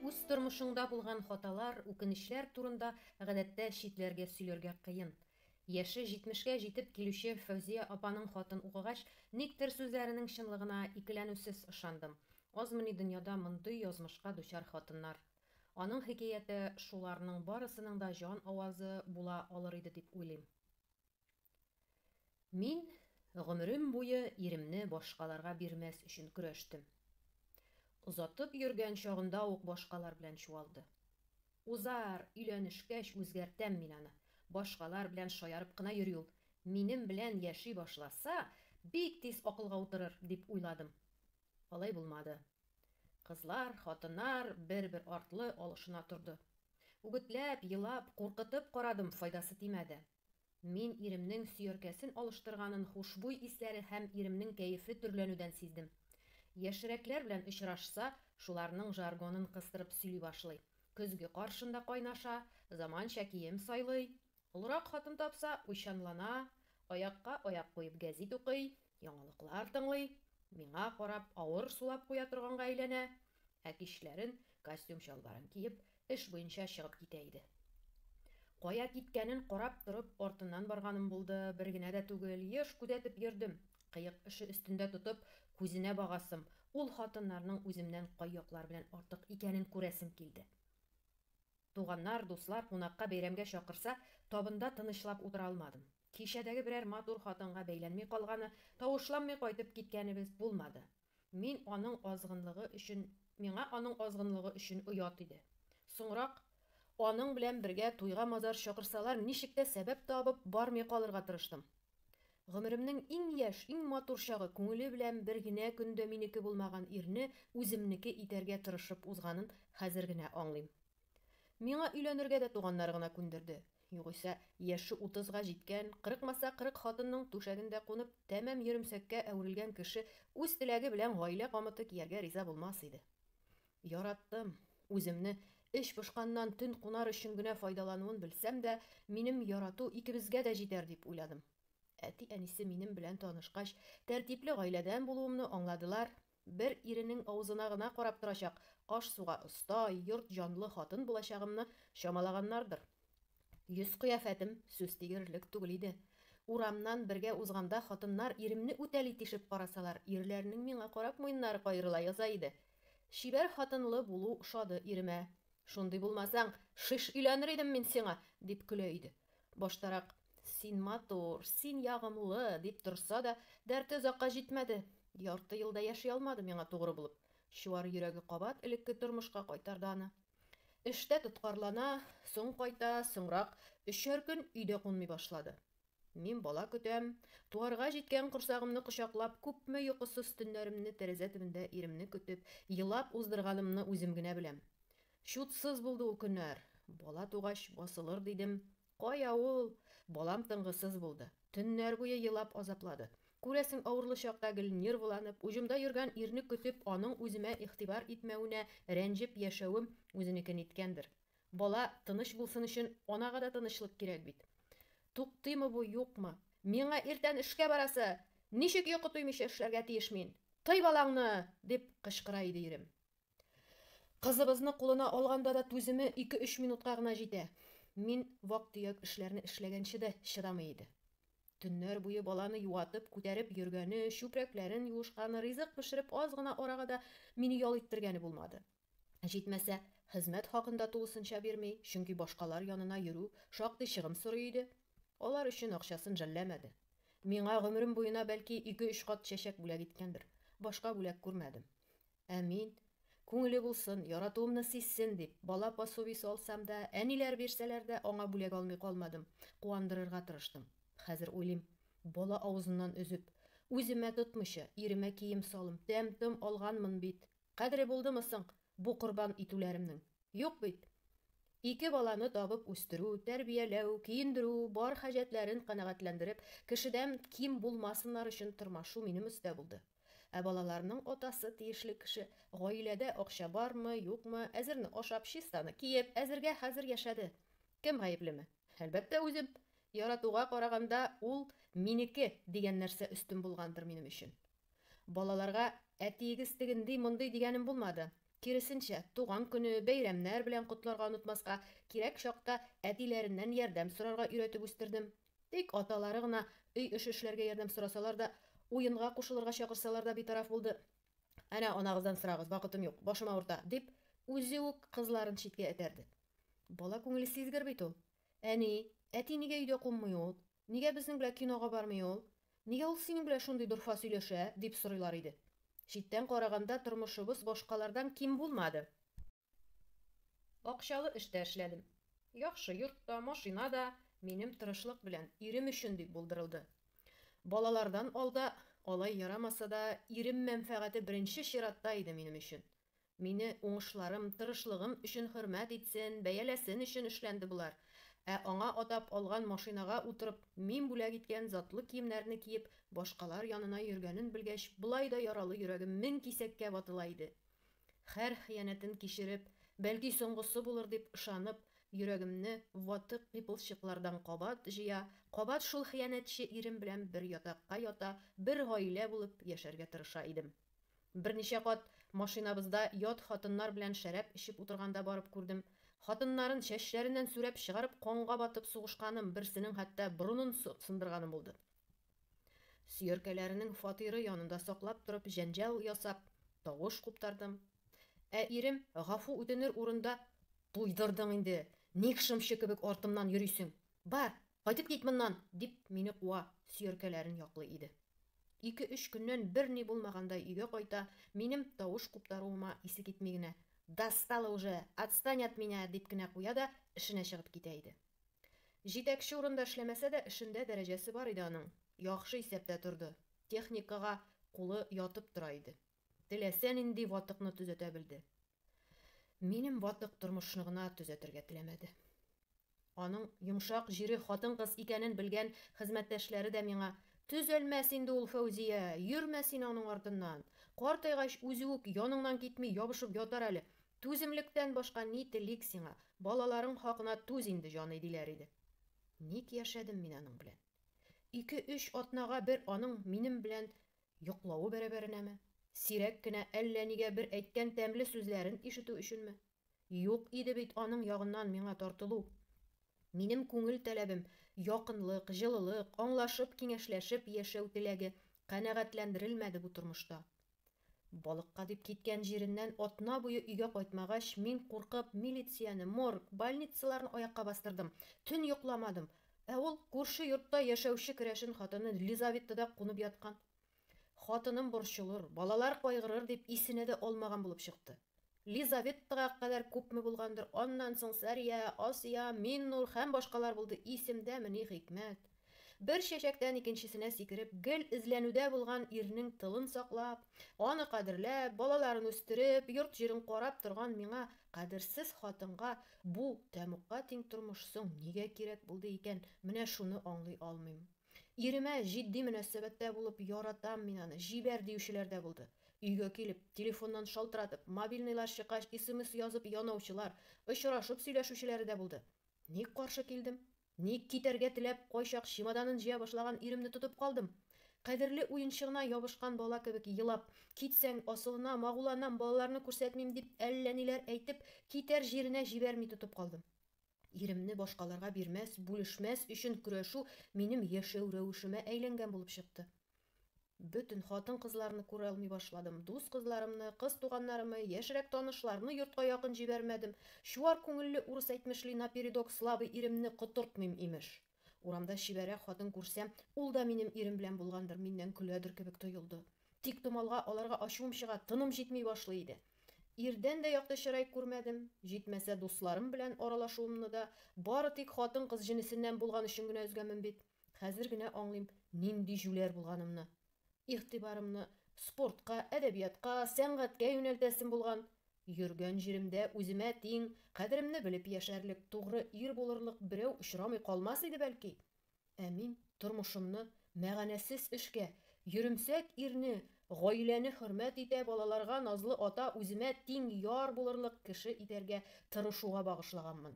Үз тормышыңда булган хаталар, үкенечләр турында гадәттә читләргә сөйләргә кыен. Яше 70-кә җитеп килүче Фәүзия апаның хатын укыгач, никтер сүзләренең чынлыгына икеләнүсез ышандым. Азмыни дөньяда мондый язмышка дучар хатыннар? Аның хикәяте шуларның барысының да җан авазы була алыр иде дип уйлыйм. Мин гомерем буе иремне башкаларга бирмәс өчен көрәштем. Озатып йөргән чагында ук башкалар белән чуалды. Узар, өйләнешкәч үзгәртәм мин аны. Башкалар белән шаярып кына йөри ул. Минем белән яши башласа, бик тиз акылга утырыр, дип уйладым. Алай булмады. Кызлар, хатыннар бер-бер артлы алышына торды. Үгетләп, елап, куркытып карадым, файдасы тимәде. Мин иремнең сөяркәсен алыштырганын хушбуй исләре һәм иремнең кәефе төрләнүдән сиздем. Яшьрәкләр белән очрашса, шуларның жаргонын кыстырып сөйли башлый, көзге каршында кайнаша, заманча кием сайлый, Олырак хатын тапса, уйчанлана, аякка аяк куеп гәзит укый, яңалыклар тыңлый, миңа карап авыр сулап куя торганга әйләнә, ә кичләрен костюм-чалбарын киеп, эш буенча чыгып китә иде. Кая киткәнен карап торып, артыннан барганым булды, бер генә дә түгел, еш күзәтеп йөрдем. Кыек эше өстендә тотып, күзенә багасым, ул хатыннарның үземнән кай яклар белән артык икәнен күрәсем килде. Туганнар, дуслар кунакка, бәйрәмгә чакырса, табында тынычлап утыра алмадым. Кичәдәге берәр матур хатынга бәйләнми калганы, тавышланмый кайтып киткәнебез булмады. Мин аның азгынлыгы өчен Миңа аның азгынлыгы өчен оят иде. Соңрак, аның белән бергә туйга-мазар чакырсалар, ничек тә сәбәп табып, бармый калырга тырыштым. Гомеремнең иң яшь, иң матур чагы күңеле белән бер генә көн дә минеке булмаган ирне үземнеке итәргә тырышып узганын хәзер генә аңлыйм. Миңа өйләнергә дә туганнары гына күндерде. Югыйсә, яше утызга җиткән, кырыкмаса кырык хатынның түшәгендә кунып, тәмам йөремсәккә әверелгән кеше үз теләге белән гаилә камыты кияргә риза булмас иде. Яраттым. Үземне эч пошканнан төн кунар өчен генә файдалануын белсәм дә, минем ярату икебезгә дә җитәр дип уйладым. Әти-әнисе минем белән танышкач, тәртипле гаиләдән булуымны аңладылар, бер иренең авызына гына карап торачак, аш-суга оста, йорт җанлы хатын булачагымны чамалаганнардыр. Йөз-кыяфәтем сүз тигерерлек түгел иде. Урамнан бергә узганда хатыннар иремне үтәли тишеп карасалар, ирләренең миңа карап муеннары каерыла яза иде. Чибәр хатынлы булу ошады иремә. Шундый булмасаң, шеш өйләнер идем мин сиңа! дип көлә иде. Баштарак, Син матур, син ягымлы, дип торса да, дәрте озакка җитмәде. Ярты ел да яши алмады миңа тугры булып. Чуар йөрәге кабат элекке тормышка кайтарды аны. Эштә тоткарлана, соң кайта, соңрак өчәр көн өйдә кунмый башлады. Мин бала көтәм. Туарга җиткән корсагымны кочаклап, күпме йокысыз төннәремне тәрәзә төбендә иремне көтеп, елап уздырганымны үзем генә беләм. Чутсыз булды ул көннәр. Бала тугач, басылыр дидем. Кая ул! Балам тынгысыз булды. Төннәр буе елап азаплады. Күрәсең, авырлы чакта гел нервыланып, уҗымда йөргән ирне көтеп, аның үземә игътибар итмәвенә рәнҗеп яшәвем үзенекен иткәндер. Бала тыныч булсын өчен анага да тынычлык кирәк бит. Туктыймы бу, юкмы? Миңа иртән эшкә барасы! Ничек йокы туймыйча эшләргә тиеш мин? Тый балаңны! дип кычкыра иде ирем. Кызыбызны кулына алганда да түземе ике-өч минутка гына җитә. Мин вак-төяк эшләрне эшләгәнче дә чыдамый иде. Төннәр буе баланы юатып, күтәреп йөргәне, чүпрәкләрен юышканы, ризык пешереп аз гына арага да мине ял иттергәне булмады. Җитмәсә, хезмәт хакын да тулысынча бирми, чөнки башкалар янына йөрү шактый чыгым сорый иде. Алар өчен акчасын жәлләмәде. Миңа гомерем буена бәлки ике-өч кат чәчәк бүләк иткәндер. Башка бүләк күрмәдем. Ә мин, күңеле булсын, яратуымны сизсен дип, бала пособиесе алсам да, әниләр бирсәләр дә, аңа бүләк алмый калмадым, куандырырга тырыштым. Хәзер уйлыйм, бала авызыннан өзеп, үземә тотмыйча, иремә кием-салым, тәм-том алганмын бит. Кадере булдымы соң бу корбан итүләремнең? Юк бит! Ике баланы табып үстерү, тәрбияләү, киендерү, бар хаҗәтләрен канәгатьләндереп, кешедән ким булмасыннар өчен тырмашу минем өстә булды. Ә балаларның атасы тиешле кеше, гаиләдә акча бармы, юкмы, әзерне ашап, чистаны киеп, әзергә хәзер яшәде. Кем гаеплеме? Әлбәттә, үзем! Яратуга караганда, ул, минеке, дигән нәрсә өстен булгандыр минем өчен. Балаларга әтиегез тегенди, мондый дигәнем булмады. Киресенчә, туган көне, бәйрәмнәр белән котларга онытмаска, кирәк чакта әтиләреннән ярдәм сорарга өйрәтеп үстердем. Тик аталары гына өй эше эшләргә ярдәм сорасалар да, уенга кушылырга чакырсалар да битараф булды. Әнә анагыздан сорагыз, вакытым юк, башым авырта, дип, үзе үк кызларын читкә этәрде. Бала күңеле сизгер бит ул. Әни, әти нигә өйдә кунмый ул? Нигә безнең белән кинога бармый ул? Нигә ул синең белән шундый дорфа сөйләшә? дип сорыйлар иде. Читтән караганда тормышыбыз башкалардан ким булмады. Акчалы эштә эшләдем. Яхшы йорт та, машина да минем тырышлык белән, ирем өчен дип булдырылды. Балалардан алда, алай ярамаса да, ирем мәнфәгате беренче чиратта иде минем өчен. Мине уңышларым, тырышлыгым өчен хөрмәт итсен, бәяләсен өчен эшләнде болар. Ә аңа атап алган машинага утырып, мин бүләк иткән затлы киемнәрне киеп, башкалар янына йөргәнен белгәч, болай да яралы йөрәгем мең кисәккә ватыла иде. Хәр хыянәтен кичереп, бәлки соңгысы булыр дип ышанып, йөрәгемне ватык кыйпылчыклардан кабат җыя, кабат шул хыянәтче ирем белән бер ятакка ята, бер гаилә булып яшәргә тырыша идем. Берничә кат машинабызда ят хатыннар белән шәраб эчеп утырганда барып күрдем. Хатыннарын чәчләреннән сүрәп чыгарып канга батып сугышканым, берсенең хәтта борынын сындырганым булды. Сөяркәләренең фатиры янында саклап торып җәнҗал ясап, тавыш куптардым. Ә ирем, гафу үтенер урында, Туйдырдың инде, ник шымчы кебек артымнан йөрисең? Бар, Кайтып кит моннан! дип, мине куа, сөяркәләрен яклый иде. Ике-өч көннән берни булмагандай өйгә кайта, минем тавыш куптаруыма исе китми генә, Достала уже! Отстань от меня! дип кенә куя да эшенә чыгып китә иде. Җитәкче урында эшләмәсә дә, эшендә дәрәҗәсе бар иде аның, яхшы исәптә торды, техникага кулы ятып тора иде. Теләсә нинди ватыкны төзәтә белде. Минем ватык тормышны гына төзәтергә теләмәде. Аның йомшак җире хатын-кыз икәнен белгән хезмәттәшләре дә миңа, Төзәлмәс инде ул Фәүзия, йөрмә син аның артыннан. Картайгач, үзе үк яныңнан китми ябышып ятар әле. Түземлектән башка ни телик сиңа, балаларың хакына түз инде, җаный, диләр иде. Ник яшәдем мин аның белән? Ике-өч атнага бер аның минем белән Йоклавы бәрабәренәме, сирәк кенә әллә нигә бер әйткән тәмле сүзләрен ишетү өченме? Юк иде бит аның ягыннан миңа тартылу. Минем күңел таләбем, якынлык, җылылык, аңлашып, киңәшләшеп яшәү теләге канәгатьләндерелмәде бу тормышта. Балыкка дип киткән җиреннән атна буе өйгә кайтмагач, мин куркып, милицияне, морг, больницаларны аякка бастырдым, төн йокламадым, Ә ул күрше йортта яшәүче керәшен хатыны Лизаветтада кунып яткан. Хатыным борчылыр, балалар кайгырыр дип исенә дә алмаган булып чыкты. Лизаветтага кадәр күпме булгандыр, аннан соң Сәрия, Асия, Миннур һәм башкалар булды, исемдәмени хикмәт. Бер чәчәктән икенчесенә сикереп, гел эзләнүдә булган ирнең тылын саклап, аны кадерләп, балаларын үстереп, йорт-җирен карап торган миңа Кадерсез хатынга бу тәмугка тиң тормыш соң нигә кирәк булды икән, менә шуны аңлый алмыйм. Иремә җитди мөнәсәбәттә булып, яратам мин аны, җибәр диючеләр дә булды. Өйгә килеп, телефоннан шалтыратып, мобильныйлар чыккач, смс язып янаучылар, очрашып сөйләшүчеләре дә булды. Ник каршы килдем? Ник китәргә теләп, кайчак чемоданын җыя башлаган иремне тотып калдым. Кадерле уенчыгына ябышкан бала кебек елап, китсәң, асылынам, агуланам, балаларны күрсәтмим, дип әллә ниләр әйтеп, китәр җиренә җибәрми тотып калдым. Иремне башкаларга бирмәс, бүлешмәс өчен көрәшү минем яшәү рәвешемә әйләнгән булып чыкты. Бөтен хатын-кызларны күрә алмый башладым. Дус кызларымны, кыз туганнарымы, яшьрәк танышларны йортка якын җибәрмәдем. Чуар күңелле урыс әйтмешли напередок слабый иремне котыртмыйм, имеш. Урамда чибәрәк хатын күрсәм, ул да минем ирем белән булгандыр, миннән көләдер кебек тоелды. Тиктомалга аларга ачуым чыга, тыным җитми башлый иде. Ирдән дә якты чырай күрмәдем, җитмәсә дусларым белән аралашуымны да бары тик хатын-кыз җенесеннән булган өчен генә өзгәнмен бит. Хәзер генә аңлыйм нинди җүләр булганымны. Игътибарымны спортка, әдәбиятка, сәнгатькә юнәлтәсем булган. Йөргән җиремдә үземә тиң, кадеремне белеп яшәрлек, тугры ир булырлык берәү очрамый калмас иде бәлки. Ә мин тормышымны мәганәсез эшкә, йөремсәк ирне, гаиләне хөрмәт итә, балаларга назлы ата, үземә тиң яр булырлык кеше итәргә тырышуга багышлаганмын.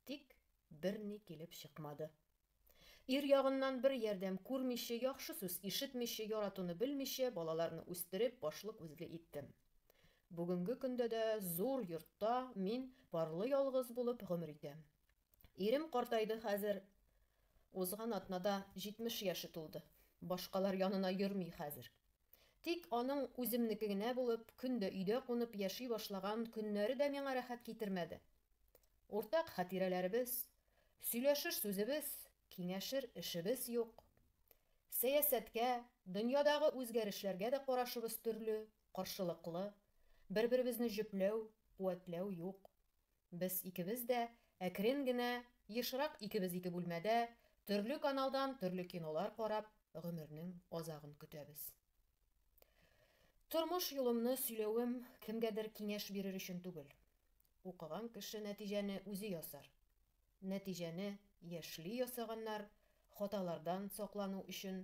Тик берни килеп чыкмады. Ир ягыннан бер ярдәм күрмичә, яхшы сүз ишетмичә, яратуны белмичә, балаларны үстереп, башлык үзле иттем. Бүгенге көндә дә зур йортта мин парлы ялгыз булып гомер итәм. Ирем картайды хәзер, узган атнада 70 яше тулды. Башкалар янына йөрми хәзер. Тик аның үземнеке генә булып, көн дә өйдә кунып яши башлаган көннәре дә миңа рәхәт китермәде. Уртак хатирәләребез, сөйләшер сүзебез, киңәшер эшебез юк. Сәясәткә, дөньядагы үзгәрешләргә дә карашыбыз төрле, каршылыклы, бер-беребезне җөпләү, куәтләү юк. Без икебез дә, әкрен генә, ешрак икебез ике бүлмәдә, төрле каналдан төрле кинолар карап, гомернең азагын көтәбез. Тормыш юлымны сөйләвем кемгәдер киңәш бирер өчен түгел. Укыган кеше нәтиҗәне үзе ясар. Нәтиҗәне яшьли ясаганнар хаталардан саклану өчен